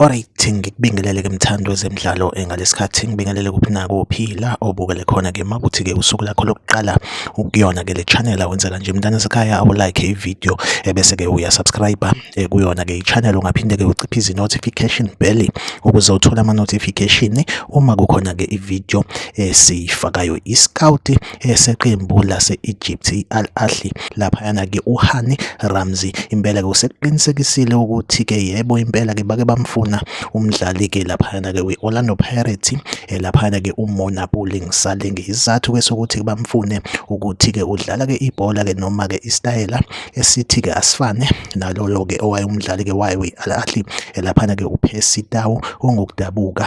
Alright, ngikubingelele ke mthandi wezemidlalo eh, ngalesikhathi ngibingelele kuphi nakuphi la obukele khona ke makuthi ke usuku lakho lokuqala ukuyona ke le channel awenzela nje mntana sekhaya awu like i video ebese eh, ke uya subscribe eh, kuyona ke i channel ungaphinde ke uciphe izi notification bell ukuze uthole ama notification uma kukhona ke i video esiyifakayo i scout eseqembu lase-Egypt i-Al Ahly laphayana-ke uHani Ramzi impela-ke usekuqinisekisile ukuthi-ke yebo impela-ke bake bamfuna umdlali-ke laphayana-ke we-Orlando Pirates eh, laphayana-ke uMona Puling Saleng isizathu-ke sokuthi bamfune ukuthi-ke udlala-ke ibhola-ke noma-ke isitayela esithi-ke asifane nalolo-ke owayewumdlali-ke wayo we-Al Ahly eh, laphana-ke uPercy Tau ongokudabuka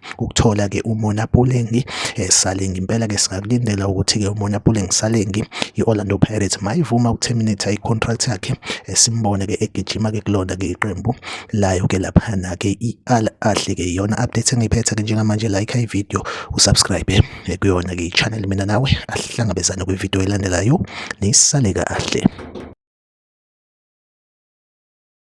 ukuthola-ke umona pulengi eh, salengi impela-ke singakulindela ukuthi-ke umona pulengi salengi i-orlando pirates mayivuma ukuterminate i-contract yakhe eh, simbone-ke egijima-ke kulona-ke iqembu layo-ke laphana-ke i-al ahle-ke iyona update engiyiphethe-ke njengamanje like ividiyo usubscribe eh, kuyona-ke i-channel mina nawe ahlangabezane kwividiyo elandelayo nisale kahle